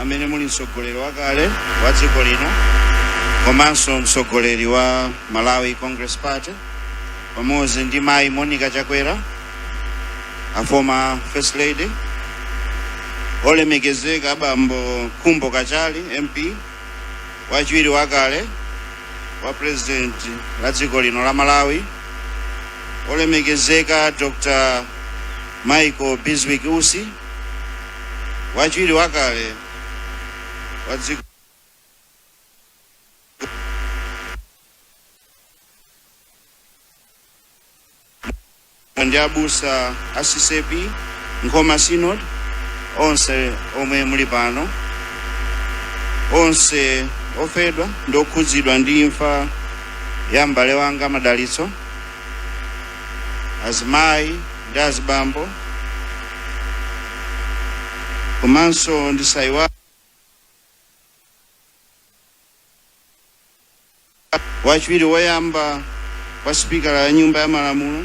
amene muli mtsogoleri wakale wa dziko lino komanso mtsogoleri wa Malawi Congress Party pamodzi ndi mayi Monica Chakwera a former first lady olemekezeka bambo Khumbo Kachali MP wachiwiri wakale wa president wa dziko lino la Malawi olemekezeka Dr. Michael Bizwick Usi Wachiwiri wakale wa dziko ndi abusa a CCAP Nkhoma Synod onse omwe muli pano onse ofedwa ndi okhudzidwa ndi imfa ya m'bale wanga Madalitso azimayi ndi azibambo komanso ndisaiwale wachiwiri woyamba kwa sipikala ya nyumba ya malamulo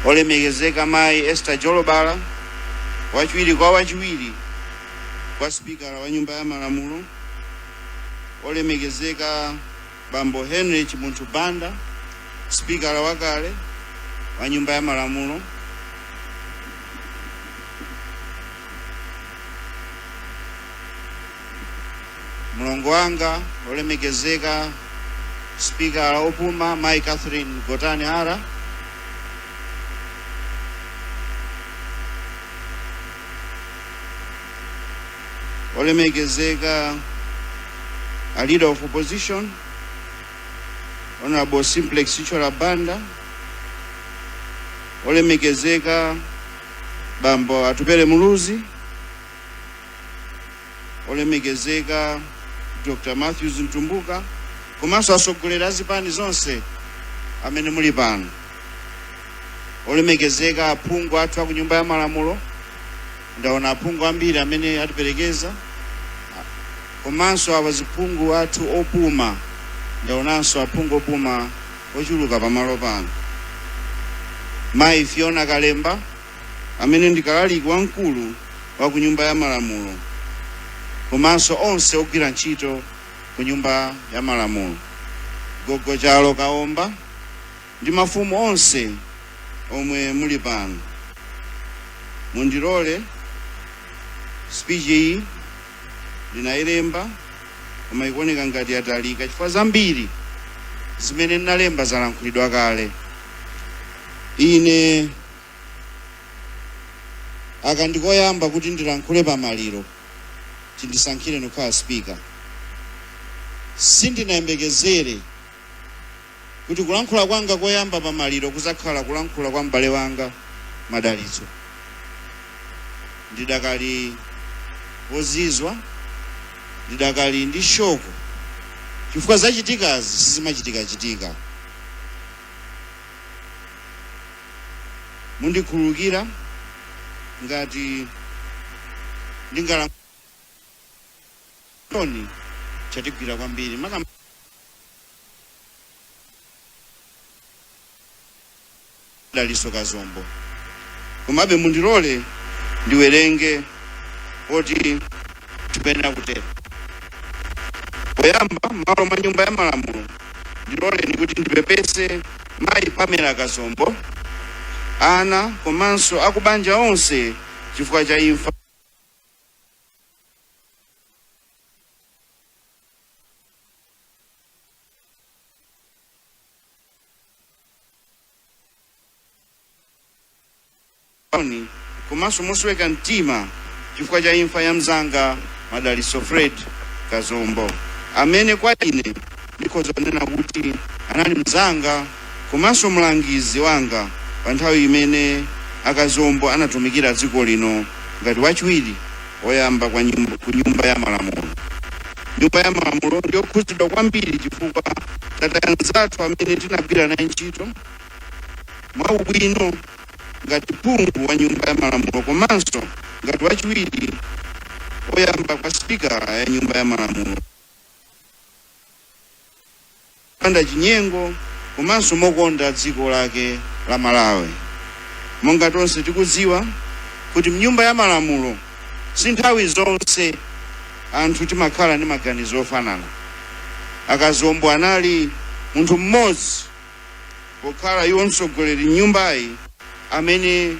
olemekezeka mayi Esther Jolobala wachiwiri kwa wachiwiri kwa sipikala wa nyumba ya malamulo olemekezeka Bambo Henry Chimunthu Banda, sipikala wakale wa nyumba ya malamulo, mlongo wanga olemekezeka sipikala opuma Mai Catherine Gotani Hara, olemekezeka a leader of opposition honorable simplex chithyola banda olemekezeka bambo atupele muluzi olemekezeka dr matthews mtumbuka komanso atsogoleri a zipani zonse amene muli pano olemekezeka aphungu athu a ku nyumba ya malamulo Ndaona aphungu ambiri amene atiperekeza komanso awaziphungu athu opuma. Ndaonanso aphungu opuma ochuluka pamalo pano. Mayi Fiona Kalemba amene ndi kalaliki wamkulu wa ku Nyumba ya Malamulo komanso onse ogwira ntchito ku Nyumba ya Malamulo. Gogo Chalo Kaomba. ndi mafumu onse omwe muli pano, mundilole speech iyi ndinayilemba koma ikuoneka ngati yatalika chifukwa zambiri zimene ndinalemba zalankhulidwa kale. Ine aka ndikoyamba kuti ndilankhule pamaliro, chindisankhire ndikukhala speaker, sindinayembekezere kuti kulankhula kwanga koyamba pamaliro kudzakhala kulankhula kwa m'bale wanga Madalitso. Ndidakali wozizwa, ndidakali ndi shoko chifukwa zachitikazi sizimachitikachitika. Mundikhululukira ngati ndingalankhule chonde chatigwira kwambiri makamaka dalitso Kazombo komabe mundilole ndiwerenge poti tikuyenera kutero poyamba m'malo mwa nyumba ya malamulo ndiloleni kuti ndipepese mayi Pamela Kazombo ana komanso akubanja onse chifukwa cha imfa Oni, komanso mosweka mtima chifukwa cha imfa ya mzanga Madalitso Fred Kazombo amene kwa ine ndikhoza kunena kuti anali mzanga komanso mlangizi wanga pa nthawi imene a Kazombo anatumikira dziko lino ngati wachiwiri oyamba kwa nyumba, ku nyumba ya malamulo. Nyumba ya malamulo ndiyokhudzidwa kwambiri chifukwa tataya mnzathu amene tinagwira naye ntchito mwaubwino ngati phungu wa nyumba ya malamulo komanso ngati wachiwiri oyamba kwa sipika wa nyumba ya malamulo. Mopanda chinyengo komanso mokonda dziko lake la Malawi. Monga tonse tikudziwa kuti mnyumba ya malamulo si nthawi zonse anthu timakhala ndi maganizo ofanana. A Kazombo anali munthu mmodzi pokhala iwo mtsogoleri mnyumbayi amene.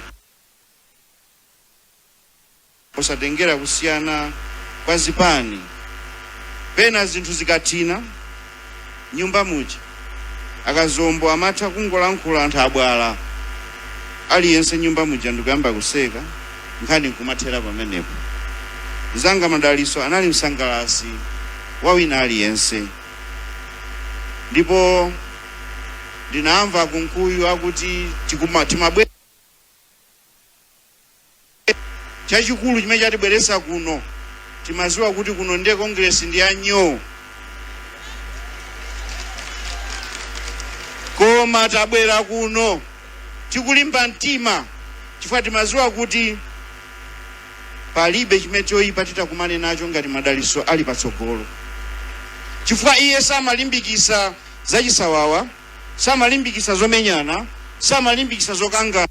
Posatengera kusiyana kwa zipani, pena zinthu zikathina m'nyumba muja, a Kazombo amatha kungolankhula anthu abwala, aliyense m'nyumba muja ndikuyamba kuseka, nkhani nkumathera pamenepo. Mzanga Madaliso anali msangalasi wa wina aliyense, ndipo ndinamva a Kunkuyu akuti tikuma, timabwe. chachikulu chimene chatibweresa kuno timaziwa kuti kuno ndiye congress ndi ya nyoo koma tabwera kuno tikulimba mtima chifukwa timaziwa kuti palibe chimene choyipa titakumane nacho ngati madaliso ali patsogolo chifukwa iye samalimbikisa zachisawawa samalimbikisa zomenyana samalimbikisa zokangana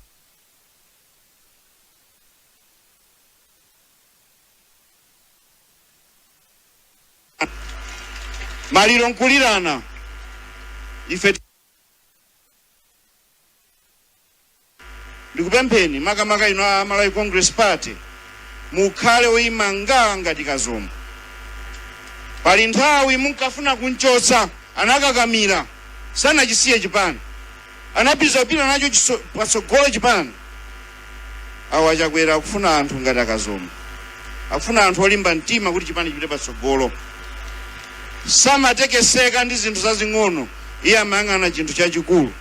maliro nkulirana ife ndikupempheni makamaka inu a malawi congress party mukhale oyima ngaa ngati kazombo pali nthawi munkafuna kunchotsa anakakamira sanachisiye chipani Anapitiliza kupita nacho patsogolo chipani. Awa a Chakwera akufuna anthu ngati a Kazombo. Akufuna anthu olimba mtima kuti chipani chipite patsogolo. Samatekeseka ndi zinthu zazing'ono, iye amayang'ana chinthu chachikulu.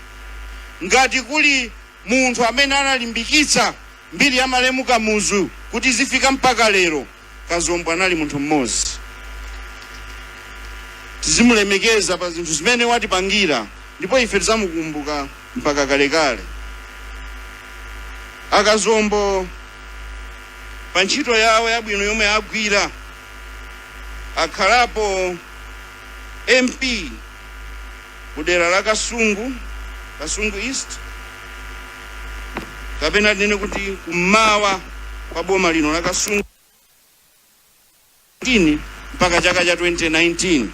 Ngati kuli munthu amene analimbikitsa mbiri ya malemu Kamuzu kuti izifika mpaka lero, Kazombo anali munthu mmodzi. Tizimulemekeza pa zinthu zimene watipangira ndipo ife tizamukumbuka mpaka kalekale. A Kazombo pa ntchito yawo yabwino yomwe agwira, akhalapo MP kudera la Kasungu, Kasungu East, kapena tinene kuti kummawa kwa boma lino la Kasungu mpaka chaka cha 2019.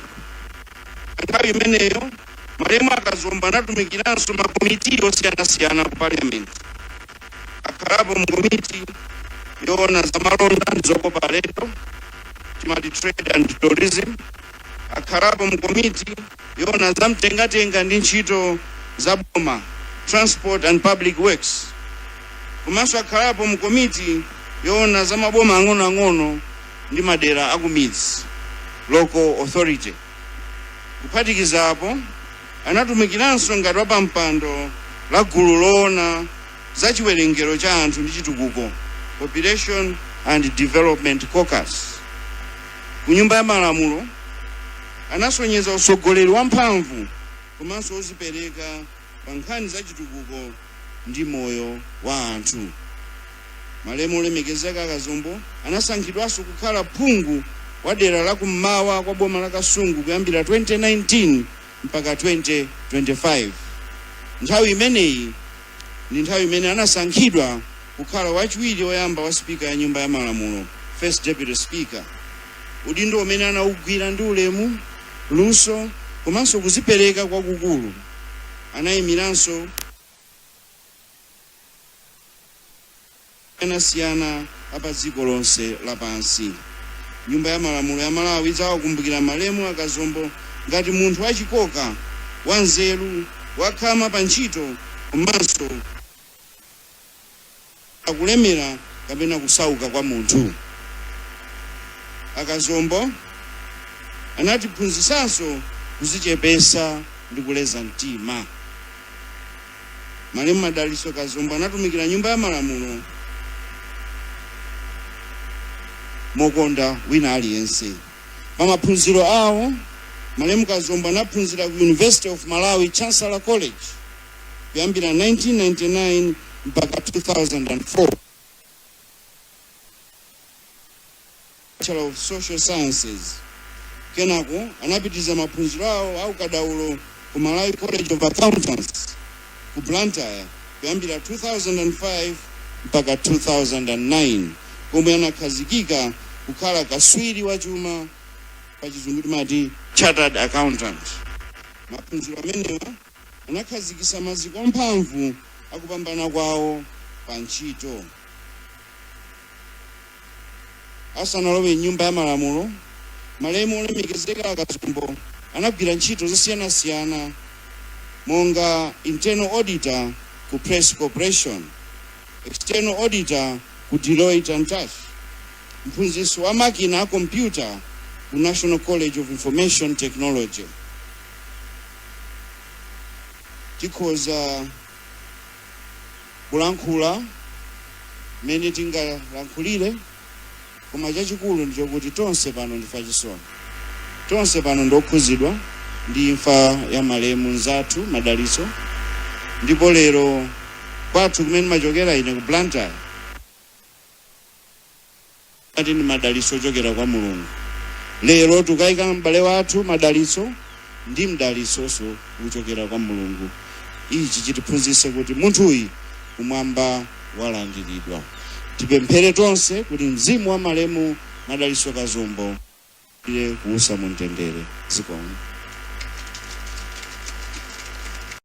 Nthawi imeneyo malemu a Kazombo anatumikiranso makomiti osiyanasiyana ku parliament akhalapo mu komiti yoona za malonda ndi zokopa alendo timati trade and tourism akhalapo mu komiti yoona za mtengatenga ndi ntchito za boma, Transport and Public Works, komanso akhalapo mu komiti yoona za maboma ang'onoang'ono ndi madera akumidzi, Local Authority. Kuphatikiza apo, anatumikiranso ngati wapampando la gulu loona za chiwerengero cha anthu ndi chitukuko, Population and Development Caucus, ku Nyumba ya Malamulo Anasonyeza utsogoleri wamphamvu komanso ozipereka pa nkhani za chitukuko ndi moyo wa anthu. Malemu Olemekezeka Kazombo anasankhidwanso kukhala phungu wa dera la kummawa kwa boma la Kasungu kuyambira 2019 mpaka 2025. Nthawi imeneyi ndi nthawi imene anasankhidwa kukhala wachiwiri oyamba wa spika ya nyumba ya malamulo first deputy speaker udindo umene anaugwira ndi ulemu luso komanso kuzipereka kwakukulu anayimiranso osiyanasiyana a padziko lonse lapansi. Nyumba ya Malamulo ya Malawi idzawakumbukira malemu a Kazombo ngati munthu wachikoka, wanzeru, wakhama pa ntchito komanso kulemera kapena kusauka kwa munthu. A Kazombo anatiphunzitsanso kuzichepesa ndi kuleza mtima. Malemu Madalitso Kazombo anatumikira Nyumba ya Malamulo mokonda wina aliyense. Pa maphunziro awo, Malemu Kazombo anaphunzira ku University of Malawi Chancellor College kuyambira 1999 mpaka 2004. Bachelor of Social Sciences. Kenako anapitiza maphunziro awo a ukadaulo ku Malawi College of Accountants ku Blantyre kuyambira 2005 mpaka 2009 komwe anakhazikika kukhala kaswiri wa chuma pa chizungu timati chartered accountant. Maphunziro amenewa anakhazikisa maziko amphamvu akupambana kwawo pa ntchito. Asanalowe m'nyumba ya malamulo, malemu Olemekezeka Kazombo anagwira ntchito zosiyanasiyana monga Internal Auditor ku Press Corporation, External Auditor ku Deloitte and Touche, mphunzitsi wa makina a kompyuta ku National College of Information Technology. tikhoza kulankhula mmene tingalankhulire, koma chachikulu ndi chokuti tonse pano ndife achisoni. Tonse pano ndi okhudzidwa ndi imfa ya malemu mnzathu Madalitso, ndipo lero kwathu kumene ndimachokera ine ku Blantyre, Ati ndi madalitso ochokera kwa Mulungu. Lero tukaika m'bale wathu Madalitso ndi mdalitsonso kuchokera kwa Mulungu. Ichi chitiphunzitse kuti munthuyu kumwamba walandiridwa. Tipemphere tonse kuti mzimu wa malemu Madalitso Kazombo ulandire kuusa mu mtendere. Zikomo.